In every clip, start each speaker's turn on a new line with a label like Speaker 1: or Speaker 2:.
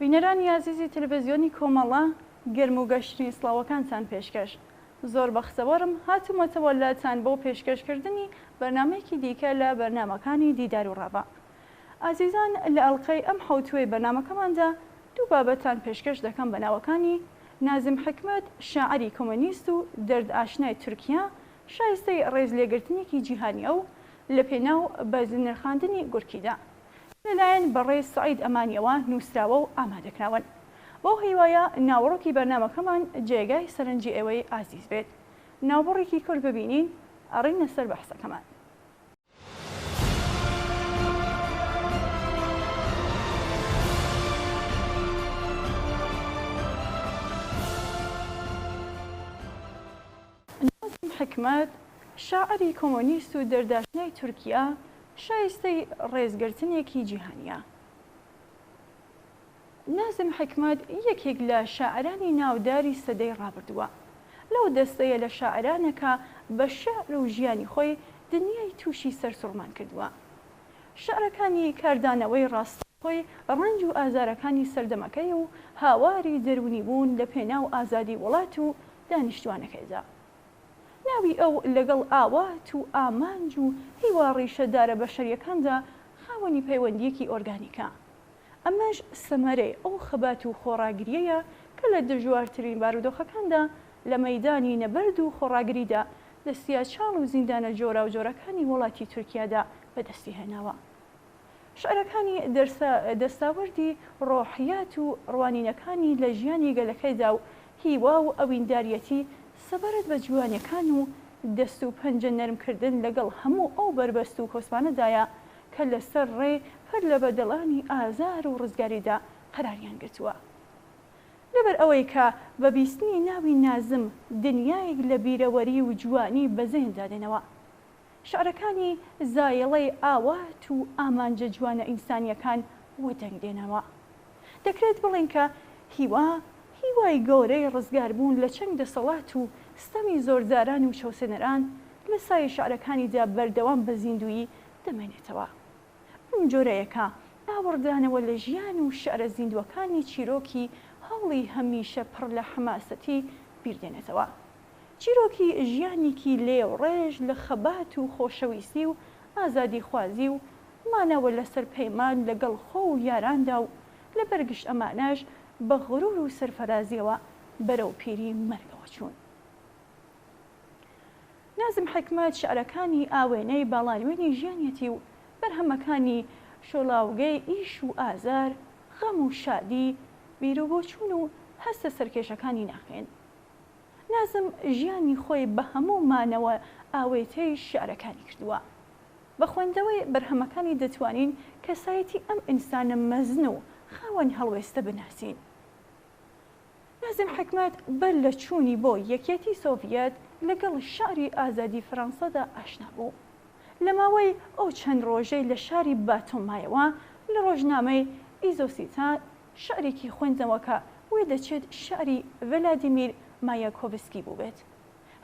Speaker 1: بینەرانی ئازیزی تەلەفزیۆنی کۆمەڵە، گەرم و گەشترین سڵاوەکانتان پێشکەش. زۆر بەخسەوەرم هاتوومەتەوە لاتان بۆ پێشکەش کردنی بەرنامەیەکی دیکە لە بەرنامەکانی دیدار و ڕاڤە. ئازیزان لە ئەڵقەی ئەم حەوتووەی بەرنامەکەماندا دوو بابەتتان پێشکەش دەکەم بە ناوەکانی، نازم حیکمەت شاعیری کۆمۆنیست و دەرد ئاشنای تورکیا شایستەی ڕێز لێگرتنێکی جیهانیە و لە پێناو بەرز نرخاندنی گورکیدا. لەلایەن بەڕێز سەعید ئەمانیەوە نووسراوە و ئامادەکراون. بەو هیوایە ناوەڕۆکی بەرنامەکەمان جێگای سەرنجی ئێوەی ئازیز بێت. ناوبڕێکی کورت ببینین، ئەڕینە سەر بەحسەکەمان. نازم حیکمەت، شاعری کۆمۆنیست و دەرداشنای تورکیا، شایستەی ڕێزگرتنێکی جیهانییە. نازم حیکمەت یەکێک لە شاعرانی ناوداری سەدەی ڕابردووە. لەو دەستەیە لە شاعرانە کە بە شیعر و ژیانی خۆی دنیای تووشی سەرسوڕمان کردووە. شیعرەکانی کاردانەوەی ڕاستەوخۆی ڕەنج و ئازارەکانی سەردەمەکەی و هاواری دەروونیبوون لەپێناو ئازادی وڵات و دانیشتوانەکەی دا. ناوی ئەو لەگەڵ ئاوات و ئامانج و هیوا ڕیشە دارە بەشەریەکاندا خاوەنی پەیوەندیەکی ئۆرگانیکە. ئەمەش سەمەرەی ئەو خەبات و خۆڕاگریەیە کە لە دژوارترین بارودۆخەکاندا لە مەیدانی نەبەرد و خۆڕاگریدا دەستیاچاڵ و زیندانە جۆراوجۆرەکانی وەڵاتی تورکیادا بەدەستی هێناوە. شعرەکانی دەرسا دەستاوەردی ڕۆحیات و ڕوانینەکانی لە ژیانی گەلەکەیدا و هیوا و ئەوینداریەتی سەبارەت بە جوانیەکان و دەست و پەنجە نەرم کردن لەگەڵ هەموو ئەو بەربەست و کۆسپانەدایە کە لەسەر ڕێ پەر لە بەدەڵانی ئازار و ڕزگاریدا قەراریان گرتووە. لەبەر ئەوەی کە بە بیستنی ناوی نازم دنیایەک لە بیرەوەری و جوانی بەزێندا دێنەوە. شعرەکانی زایەڵەی ئاوات و ئامانجە جوانە ئینسانیەکان وەدەنگ دێنەوە. دەکرێت بڵێن کە هیوا، هیوای گەورەی ڕزگاربوون لە چنگ دەسەڵات و ستەمی زۆرداران و چەوسێنەران، لە سایەی شعرەکانیدا بەردەوام بە زیندوویی دەمێنێتەوە. بەم جۆرەیەکە ئاوڕدانەوە لە ژیان و شعرە زیندووەکانی چیرۆکی هەوڵی هەمیشە پڕ لە حەماسەتی بیردێنێتەوە. چیرۆکی ژیانیکی لێ و ڕێژ لە خەبات و خۆشەویستی و ئازادی خوازی و مانەوە لە سەر پەیمان لە گەڵ خۆ و یاراندا و لە بەر گشت ئەمانەش بە غرور و سەرفەرازیەوە بەرەو پیری مەرگەوە چوون. نازم حیکمەت شعرەکانی ئاوێنەی باڵانوێنی ژیانیەتی و بەرهەمەکانی شۆڵاوگەی ئیش و ئازار، غەم و شادی، بیرو بۆچوون و هەستە سەرکێشەکانی ناخێن. نازم ژیانی خۆی بە هەموو مانەوە ئاوێتەی شیعرەکانی کردووە. بە خوێندنەوەی بەرهەمەکانی دەتوانین کەسایەتی ئەم ئینسانە مەزن و خاوەن هەڵوێستە بناسین. نازم حیکمەت بەر لە چوونی بۆ یەکیەتی سۆڤیەت لەگەڵ شیعری ئازادی فەرەنسادا ئاشنا بوو. لە ماوەی ئەو چەند ڕۆژەی لە شاری باتۆم مایەوە لە ڕۆژنامەی ئیزۆسیتا شعرێکی خوێندنەوەکە وێ دەچێت شعری ڤلادیمیر مایاکۆڤسکی بووبێت.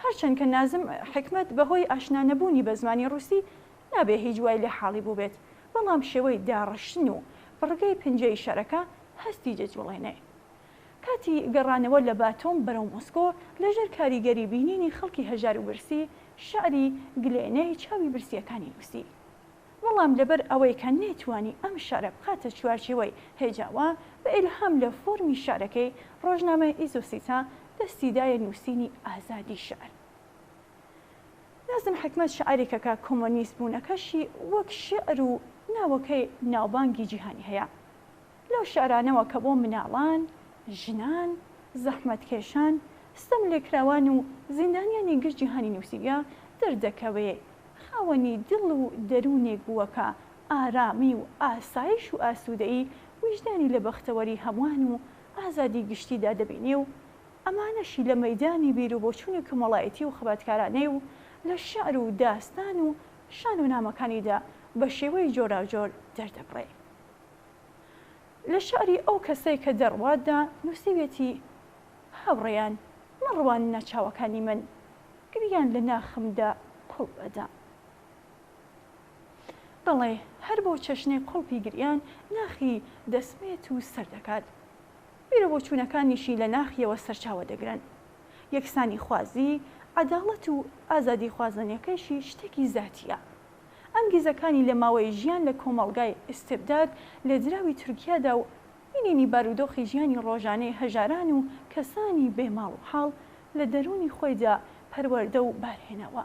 Speaker 1: هەرچەند کە نازم حیکمەت بەهۆی ئاشنا نەبوونی بە زمانی ڕووسی نابێ هیچ وای لێ حاڵی بووبێت، بەڵام شێوەی داڕشتن و بڕگەی پنجەی شعرەکە هەستی دەجوڵێنێ. کاتی گەڕانەوە لە باتۆم بەرەو مۆسکۆ لەژێر کاریگەری بینینی خەڵکی هەژار و برسی، شعری، گلێنەی چاوی برسییەکانی نووسی. بەڵام لەبەر ئەوەی کە نەیتوانی ئەم شارە بخاتە چوارچێوەی هێجاوا، بە ئیلهام لە فۆرمی شارەکەی، ڕۆژنامەی ئیزوسیتا دەستی دایە نووسینی ئازادی شیعر. نازم حیکمەت شاعیرێکەکە کۆمۆنیست بوونەکەشی وەک شیعر و ناوەکەی ناوبانگی جیهانی هەیە. لەو شیعرانەوە کە بۆ مناڵان، ژنان، زەحمەتکێشان، ستەملێکراوان و زیندانیانی گشت جیهانی نووسیویە، دەردەکەوێ خاوەنی دڵ و دەروونێک بووە کە ئارامی و ئاسایش و ئاسوودەیی ویژدانی لە بەختەوەری هەمووان و ئازادی گشتیدا دەبینێ و ئەمانەشی لە مەیدانی بیروبۆچوونی کۆمەڵایەتی و خەباتکارانەی و لە شیعر و داستان و شانۆنامەکانیدا بە شێوەی جۆراوجۆر دەردەبڕێ. لە شیعری ئەو کەسەی کە دەڕواتدا نووسیویەتی، هاوڕێیان، مەڕواننە چاوەکانی من، گریان لە ناخمدا کوڵ ئەدام. بەڵێ هەر بۆ چەشنێ قوڵپی گریان ناخی دەسمێت و سەر دەکات. بیرە بۆچوونەکانیشی لە ناخیەوە سەرچاوە دەگرن. یەکسانیخوازی، عەداڵەت و ئازادیخوازانەکەیشی شتێکی زاتییە. ئەنگیزەکانی لە ماوەی ژیان لە کۆمەڵگای ئیستبداد لە دراوی تورکیادا و بینینی بارودۆخی ژیانی ڕۆژانەی هەژاران و کەسانی بێ ماڵ و حاڵ لە دەروونی خۆیدا پەروەردە و بارهێنەوە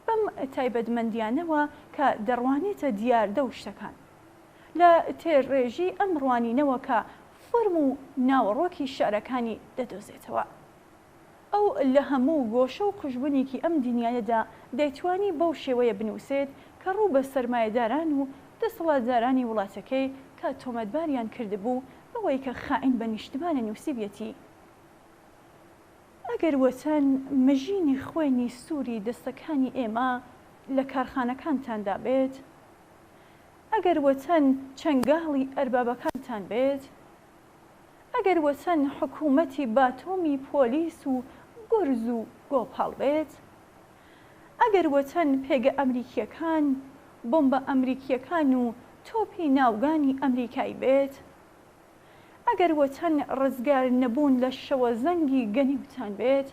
Speaker 1: بەم تایبەتمەندیانەوە کە دەڕوانێتە دیاردە و شتەکان لە تێرڕێژی ئەم ڕوانینەوە کە فۆرم و ناوەڕۆکی شعرەکانی دەدۆزێتەوە. ئەو لە هەموو گۆشە و قوژبنێکی ئەم دنیایەدا دەیتوانی بەو شێوەیە بنووسێت کە ڕوو بە سەرمایەداران و دەسەڵاتدارانی وڵاتەکەی کە تۆمەتباریان کردبوو بەوەی کە خائین بە نیشتمانە نووسیبیەتی ئەگەر وەتەن مژینی خوێنی سووری دەستەکانی ئێمە لە کارخانەکانتاندا بێت، ئەگەر وەتەن چەنگاڵی ئەربابەکانتان بێت، ئەگەر وەچەن حکومەتی باتۆمی پۆلیس و گورز و گۆپاڵ بێت ئەگەر وەچەن پێگە ئەمریکیەکان بۆمبە ئەمریکیەکان و تۆپی ناوگانی ئەمریکای بێت ئەگەر وەچەن ڕزگار نەبوون لە شەوەزەنگی گەنیوتان بێت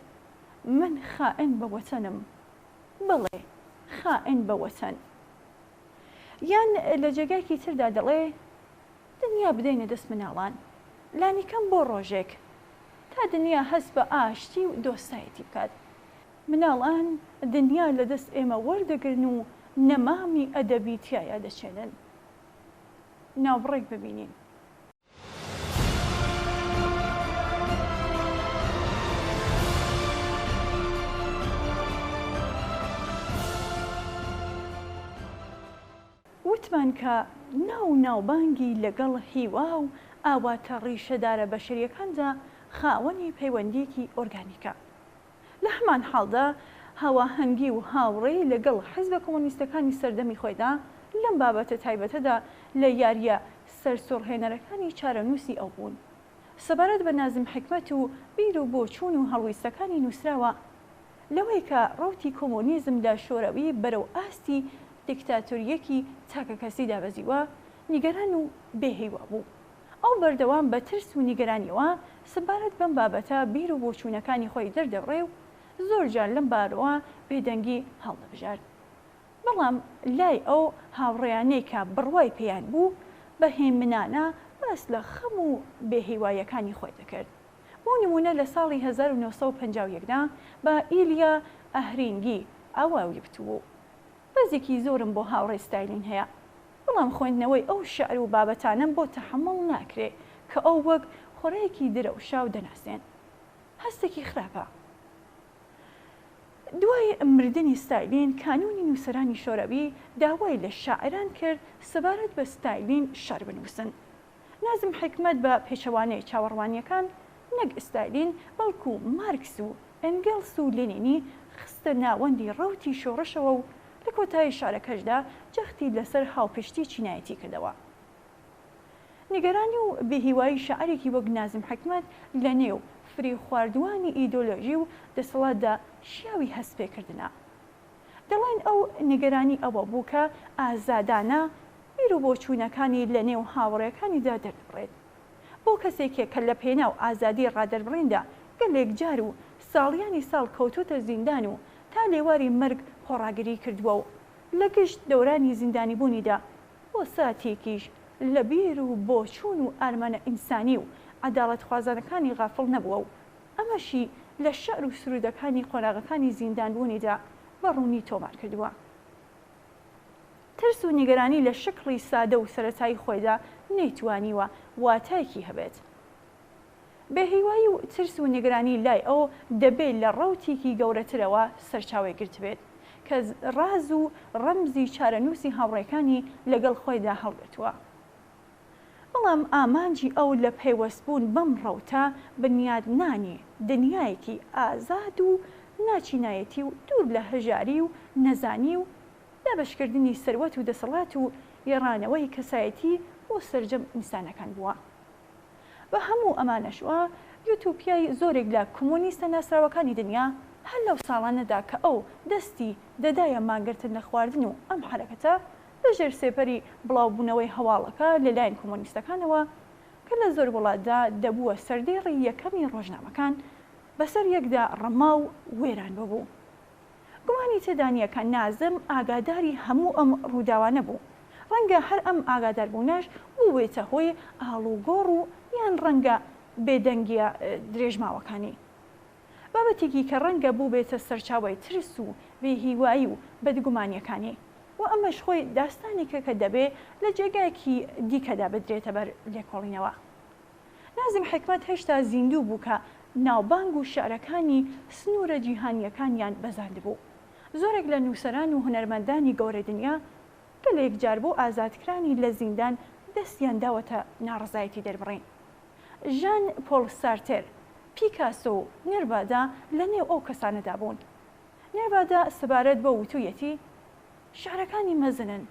Speaker 1: من خائن بە وەچەنم بەڵێ خائن بە وەچەن یان لە جێگایکی تردا دەڵێ دنیا بدەینە دەست مناڵان لانیکەم بۆ ڕۆژێک تا دنیا هەست بە ئاشتی و دۆستایەتی بکات مناڵان دنیا لە دەست ئێمە وەردەگرن و نەمامی ئەدەبی تیایا دەچێنن ناوبڕێک ببینین. وتمان کە ناو و ناوبانگی لەگەڵ هیوا و ئاواتە ڕیشەدارە بەشەریەکاندا خاوەنی پەیوەندیەکی ئۆرگانیکە. لە هەمان حاڵدا هاواهەنگی و هاوڕێی لەگەڵ حیزبە کۆمۆنیستەکانی سەردەمی خۆیدا لەم بابەتە تایبەتەدا لە یاریە سەرسوڕهێنەرەکانی چارەنووسی ئەو بوون سەبارەت بە نازم حیکمەت و بیر و بۆچوون و هەڵویستەکانی نووسراوە لەوەی کە ڕەوتی کۆمۆنیزم لە شۆرەوی بەرەو ئاستی دیکتاتۆرییەکی تاکەکەسی دابەزیوە، نیگەران و بێ هیوا بوو. ئەو بەردەوام بە ترس و نیگەرانییەوە سەبارەت بەم بابەتە بیر و بۆچوونەکانی خۆی دەردەبڕی و زۆر جار لەم بارەوە بێدەنگی هەڵدەبژارد. بەڵام لای ئەو هاوڕێیانەی کە بڕوای پێیان بوو، بە هێمنانە باس لە خەم و بێ هیواییەکانی خۆی دەکرد. بۆ نموونە لە ساڵی هەزار و نۆ سەد و پەنجا و یەک دا بە ئیلیا ئەهرینگی ئاواوی وتبوو، بەزێکی زۆرم بۆ هاوڕێ ستایلین هەیە، بەڵام خوێندنەوەی ئەو شیعر و بابەتانەم بۆ تەحەموڵ ناکرێ کە ئەو وەک خۆراکی درەوشاو دەناسێن. هەستێکی خراپە. دوای مردنی ستایلین کانوونی نووسەرانی شۆرەوی داوای لە شاعیران کرد سەبارەت بە ستایلین شیعر بنووسن. نازم حیکمەت بە پێچەوانەی چاوەڕوانییەکان نەک ئیستالین بەڵکو مارکس و ئەنگێلس و لینینی خستە ناوەندی ڕەوتی شۆڕشەوە و لە کۆتایی شعرەکەشدا جەختی لەسەر هاوپشتی چینایەتی کردەوە. نیگەرانی و بێهیوایی شاعیرێکی وەک نازم حیکمەت لە نێو فریوخواردووانی ئیدۆلۆژی و دەسەڵاتدا شیاوی هەست پێکردنە. دەڵێن ئەو نیگەرانی ئەوە بوو کە ئازادانە بیر و بۆچوونەکانی لە نێو هاوڕێکانیدا دەربڕێت. بۆ کەسێکێک کە لە پێناو ئازادی ڕادەربڕیندا گەلێک جار و ساڵیانی ساڵ کەوتووتە زیندان و تا لێواری مەرگ خۆڕاگری کردووە و لە گشت دەورانی زیندانیبوونیدا بۆ ساتێکیش لە بیر و بۆچوون و ئارمانە ئینسانی و عەداڵەتخوازانەکانی غافڵ نەبووە و ئەمەشی لە شعر و سروودەکانی قۆناغەکانی زیندانبوونیدا بە ڕوونی تۆمار کردووە. ترس و نیگەرانی لە شکڵی سادە و سەرەتایی خۆیدا نەیتوانیوە واتایەکی هەبێت. بێهیوایی و ترس و نیگەرانی لای ئەو دەبێ لە ڕەوتێکی گەورەترەوە سەرچاوەی گرتبێت کە ڕاز و ڕەمزی چارەنووسی هاوڕێکانی لەگەڵ خۆیدا هەڵگرتووە. بەڵام ئامانجی ئەو لە پەیوەستبوون بەم ڕەوتە، بنیادنانی دنیایەکی ئازاد و ناچینایەتی و دوور لە هەژاری و نەزانی و دابەشکردنی سەروەت و دەسەڵات و گێڕانەوەی کەسایەتی بۆ سەرجەم ئینسانەکان بووە. بە هەموو ئەمانەشەوە، یۆتۆپیای زۆرێک لە کۆمۆنیستە ناسراوەکانی دنیا، هەر لەو ساڵانەدا کە ئەو دەستی دەدایە مانگرتن لە خواردن و ئەم حەرەکەتە لە ژێر سێپەری بڵاوبوونەوەی هەواڵەکە لە لایەن کۆمۆنیستەکانەوە کە لە زۆر وڵاتدا دەبووە سەردێڕی یەکەمی ڕۆژنامەکان، بەسەر یەکدا ڕما و وێران ببوو. گومانی تێدا نییە کە نازم ئاگاداری هەموو ئەم ڕووداوانە بوو. ڕەنگە هەر ئەم ئاگاداربوونەش بووبێتە هۆی ئاڵوگۆڕ و یان ڕەنگە بێدەنگییە درێژماوەکانی. بابەتێکی کە ڕەنگە بووبێتە سەرچاوەی ترس و بێهیوایی و بەدگومانییەکانی و ئەمەش خۆی داستانێکە کە دەبێ لە جێگایەکی دیکەدا بدرێتە بەر لێکۆڵینەوە. نازم حیکمەت هێشتا زیندوو بوو کە ناوبانگ و شیعرەکانی سنوورە جیهانییەکانیان بەزاندبوو. زۆرێک لە نووسەران و هونەرمەندانی گەورەی دنیا گەلێک جار بۆ ئازادکرانی لە زیندان دەستیان داوەتە ناڕەزایەتی دەربڕین. ژان پۆڵ سارتێر، پیکاسۆ و نێرڤادا لە نێو ئەو کەسانەدا بوون. نێرڤادا سەبارەت بەو وتوویەتی، شیعرەکانی مەزنن،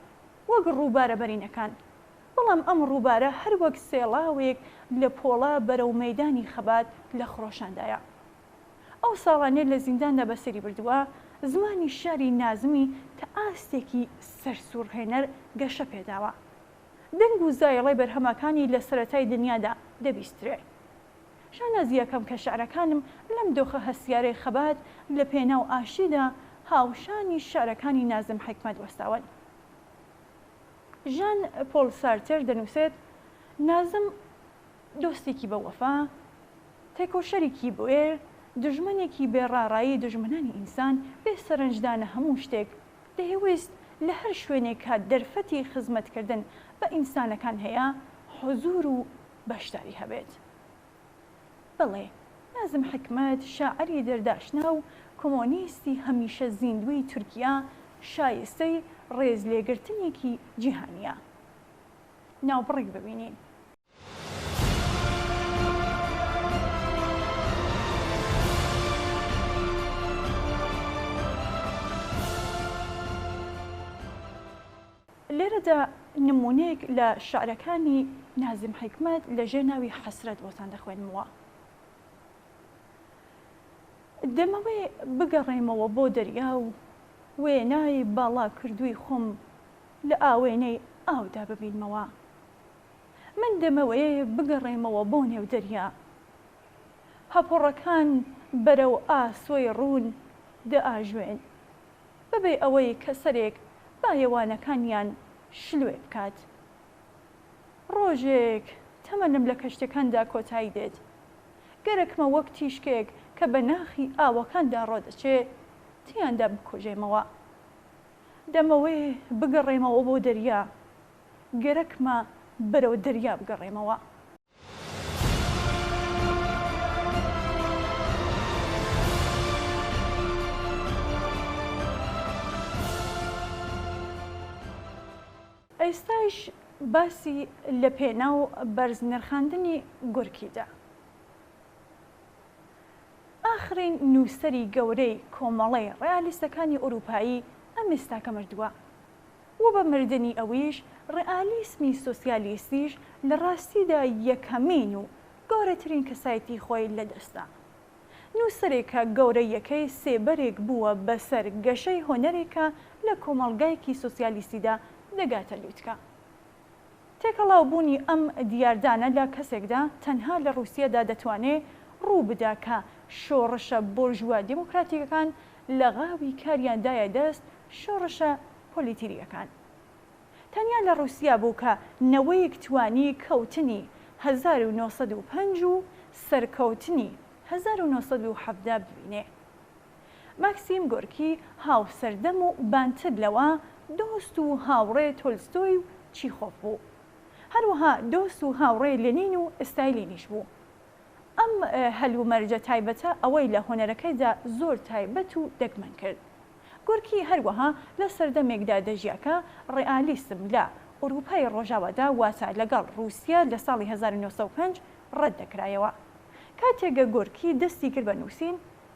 Speaker 1: وەک ڕووبارە بەرینەکان، بەڵام ئەم ڕووبارە هەر وەک سێڵاوێک لە پۆڵا بەرەو مەیدانی خەبات لە خرۆشاندایە. ئەو ساڵانێ لە زینداندا بەسەری بردووە، زمانی شیعری نازمی تا ئاستێکی سەرسووڕهێنەر گەشە پێ داوە. دەنگ و زایڵەی بەرهەمەکانی لە سەرەتای دنیادا دەبیسترێ. شانازییەکەم کە شیعرەکانم لەم دۆخە هەستیارەی خەبات لە پێناو ئاشتیدا هاوشانی شیعرەکانی نازم حیکمەت وەستاون. ژان پۆڵ سارتەر دەنووسێت، نازم دۆستێکی بە وەفا، تێکۆشەرێکی بوێر، دوژمنێکی بێ ڕاڕایی دوژمنانی ئینسان، بێ سەرنجدانە هەموو شتێک، دەیەویست لە هەر شوێنێک کە دەرفەتی خزمەتکردن بە ئینسانەکان هەیە حوزوور و بەشداری هەبێت. بەڵێ، نازم حیکمەت، شاعری دەرداشنا و کۆمۆنیستی هەمیشە زیندووی تورکیا، شایستەی ڕێزلێگرتنێکی جیهانییە. ناوبڕێک ببینین. لێرەدا نموونەیەک لە شعرەکانی نازم حیکمەت لە ژێر ناوی حەسرەت بۆتان دەخوێنمەوە. دەمەوێ بگەڕێمەوە بۆ دەریا و وێنای باڵاکردووی خۆم لە ئاوێنەی ئاودا ببینمەوە. من دەمەوێ بگەڕێمەوە بۆ نێو دەریا. هەپۆڕەکان بەرەو ئاسۆی ڕوون دەئاژوێن، بەبێ ئەوەی کە سەرێک بایەوانەکانیان شلوێ بکات. ڕۆژێک تەمەنم لە کەشتیەکاندا کۆتایی دێت. گەرەکمە وەک تیشکێک کە بە ناخی ئاوەکاندا ڕۆدەچێ، تیاندا بکوژێمەوە. دەمەوێ بگەڕێمەوە بۆ دەریا، گەرەکمە بەرەو دەریا بگەڕێمەوە. ئێستایش باسی لە پێناو بەرز نرخاندنی گورکی دا. ئاخرین نووسەری گەورەی کۆمەڵەی ڕێئالیستەکانی ئورووپایی ئەم ئێستاکە مردووە. و بە مردنی ئەویش ڕئالیسمی سۆسیالیستیش لە ڕاستیدا یەکەمین و گەورەترین کەسایتی خۆی لە دەستدا. نووسەرێکە گەورەیەکەی سێبەرێک بووە بە سەر گەشەی هونەرێکە لە کۆمەڵگایەکی سۆسیالیستیدا دەگاتە لووتکە. تێکەڵاو بوونی ئەم دیاردانە لە کەسێکدا تەنها لە ڕووسیەدا دەتوانێ ڕوو بدا کە شۆڕشە بۆرژوا دێمۆکراتیکەکان لە غاوی کاریان دایە دەست شۆڕشە پۆلیتیریەکان. تەنیا لە ڕووسیا بوو کە نەوەیک توانی کەوتنی هەزار و نۆ سەد و پەنج و سەرکەوتنی هەزار و نۆ سەد و حەڤدە ببینێ. ماکسیم گۆرکی هاوسەردەم و بانتر لەوە، دۆست و هاوڕێ تۆلستۆی و چیخۆف بوو. هەروەها دۆست و هاوڕێ لێنین و ئستایلینیش بوو. ئەم هەلومەرجە تایبەتە ئەوەی لە هونەرەکەیدا زۆر تایبەت و دەگمەن کرد. گۆرکی هەروەها لە سەردەمێکدا دەژیا کە ڕێئالیسم لە ئورووپای ڕۆژاوادا واتە لەگەڵ ڕووسیا لە ساڵی هەزار و نۆ سەد و پێنج ڕەت دەکرایەوە. کاتێک گۆرکی دەستی کرد بە نووسین،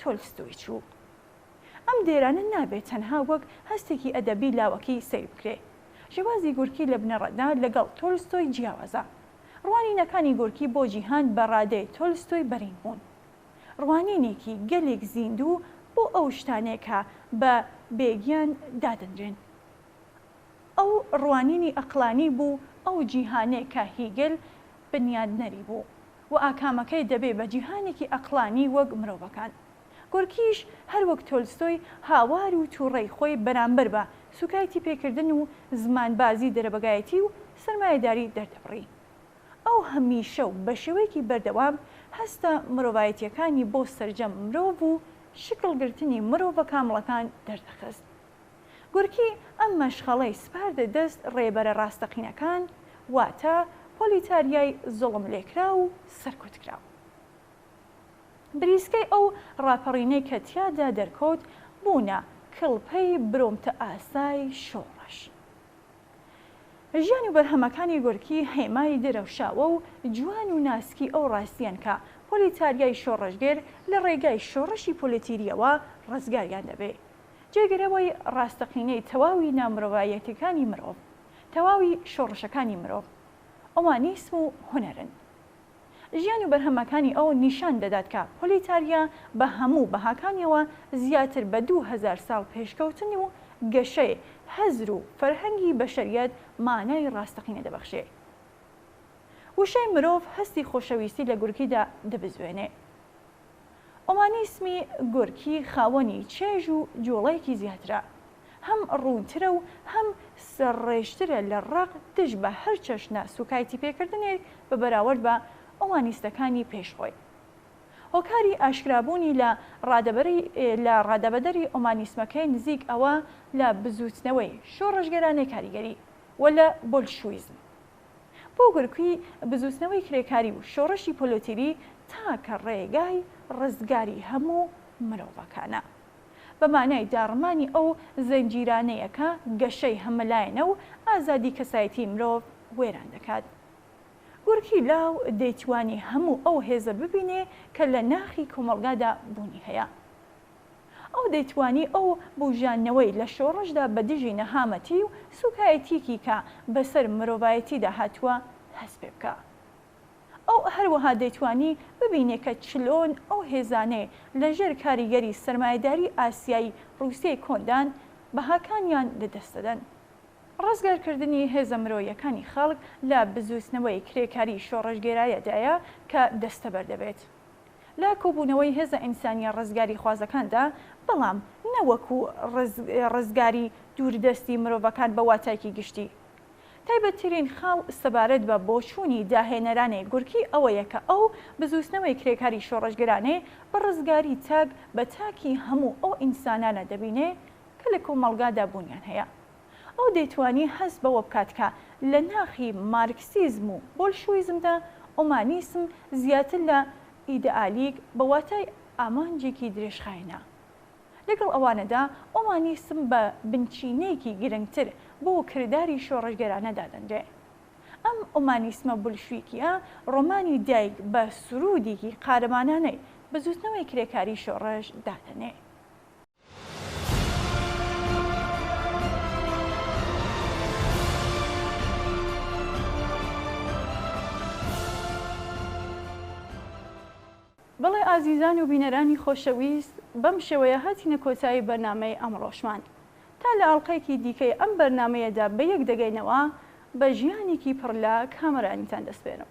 Speaker 1: تۆلستۆی چوو. ئەم دێرانە نابێ تەنها وەک هەستێکی ئەدەبی لاوەکی سەیر بکرێ. شێوازی گۆرکی لە بنەڕەتدا لەگەڵ تۆلستۆی جیاوازە. ڕوانینەکانی گۆرکی بۆ جیهان بە ڕادەی تۆلستۆی بەرین بوون. ڕوانینێکی گەلێک زیندوو بۆ ئەو شتانەی کە بە بێگیان دادەنرێن. ئەو ڕوانینی ئەقڵانی بوو، ئەو جیهانێ کە هیگل بنیادنەری بوو و ئاکامەکەی دەبێ بە جیهانێکی ئەقڵانی وەک مرۆڤەکان. گۆرکیش هەر وەک تۆلستۆی هاوار و تووڕەی خۆی بەرامبەر بە سوکایتیپێکردن و زمانبازی دەرەبەگایەتی و سەرمایەداری دەردەبڕی. ئەو هەمیشە و بە شێوەیەکی بەردەوام هەستە مرۆڤایەتییەکانی بۆ سەرجەم مرۆڤ و شکڵگرتنی مرۆڤە کامڵەکان دەردەخست. گورکی ئەم مەشخەڵەی سپاردە دەست ڕێبەرە ڕاستەقینەکان، واتە پۆلیتاریای زوڵملێکراو و سەرکوتکراو. بریسکەی ئەو ڕاپەڕینەی کە تیادا دەرکەوت بوونە کڵپەی برۆمتەئاسای شۆڕش. ژیان و بەرهەمەکانی گورکی هێمای درەوشاوە و جوان و ناسکی ئەو ڕاستیەن کە پۆلیتاریای شۆڕشگێر لە ڕێگای شۆڕشی پۆلیتیریەوە ڕزگاریان دەبێ. جێگرەوەی ڕاستەقینەی تەواوی نامرۆڤایەتیەکانی مرۆڤ، تەواوی شۆڕشەکانی مرۆڤ، ئۆمانیسم و هونەرن. ژیان و بەرهەمەکانی ئەو نیشان دەدات کە پۆلیتاریا بە هەموو بەهاکانیەوە زیاتر بە دوو هەزار ساڵ پێشکەوتن و گەشەی هزر و فەرهەنگی بەشەریەت مانای ڕاستەقینە دەبەخشێ. وشەی مرۆڤ هەستی خۆشەویستی لە گورگیدا دەبزوێنێ. ئۆمانیسمی گۆرکی خاوەنی چێژ و جوڵەیەکی زیاترە، هەم ڕوونترە و هەم سەرڕێژترە لە ڕق دژ بە هەر چەشنە سووکایتیپێکردنێک بە بەراورد بە ئۆمانیستەکانی پێش خۆی. هۆکاری ئاشکرابوونی لە ڕادەبەری لە ڕادەبەدەری ئۆمانیسمەکەی نزیک ئەوە لە بزووتنەوەی شۆڕشگێرانەی کاریگەری و لە بۆلشویزم. بۆ گرکوی بزوتنەوەی کرێکاری و شۆڕشی پۆلۆتیری تاکە ڕێگای ڕزگاری هەموو مرۆڤەکانە. بە مانای داڕمانی ئەو زنجیرانەیە کە گەشەی هەمەلایەنە و ئازادی کەسایەتی مرۆڤ وێران دەکات. گورکی لاو دەیتوانی هەموو ئەو هێزە ببینێ کە لە ناخی کۆمەڵگادا بوونی هەیە. ئەو دەیتوانی ئەو بووژاندنەوەی لە شۆڕشدا بە دژی نەهامەتی و سووکایەتییەکی کە بە سەر مرۆڤایەتیدا هاتووە هەست پێ بکا. ئەو هەروەها دەیتوانی ببینێ کە چلۆن ئەو هێزانەی لە ژێر کاریگەری سەرمایەداری ئاسیایی ڕووسیەی کۆندان، بەهاکانیان لە دەست دەدەن. ڕزگار کردنی هێزە مرۆیەکانی خەڵک لە بزووتنەوەی کرێکاریی شۆڕشگێرایەدایە کە دەستەبەر دەبێت. لە کۆبوونەوەی هێزە ئینسانییە ڕزگاریخوازەکاندا، بەڵام نە وەکوو ڕزگاری دووردەستی مرۆڤەکان بە واتایکی گشتی. تایبەتترین خاڵ سەبارەت بە بۆچوونی داهێنەرانەی گورکی ئەوەیە کە ئەو بزووتنەوەی کرێکاری شۆڕشگرانەی بە ڕزگاری تاک بە تاکی هەموو ئەو ئینسانانە دەبینێ کە لە کۆمەڵگادا بوونیان هەیە. ئەو دەیتوانی هەست بەوە بکات کە لە ناخی مارکسیزم و بۆلشویزمدا ئومانیسم زیاتر لە ئیدئالیک بە واتای ئامانجێکی درێژخایەنە. لەگەڵ ئەوانەدا ئومانیسم بە بنچینەیەکی گرنگتر بۆ کرداری شۆڕشگێرانە دادەنرێ. ئەم ئومانیسمە بولشویکییە ڕۆمانی دایک بە سروودێکی قارەمانانەی بزووتنەوەی کرێکاریی شۆڕش دادەنێ. بەڵێ ئازیزان و بینەرانی خۆشەویست بەم شێوەیە هاتینە کۆتایی بەرنامەی ئەمڕۆشمان تا لە ئەڵقەیەکی دیکەی ئەم بەرنامەیەدا بەیەک دەگەینەوە بە ژیانێکی پڕ لە کامەرانیتان دەسپێرم.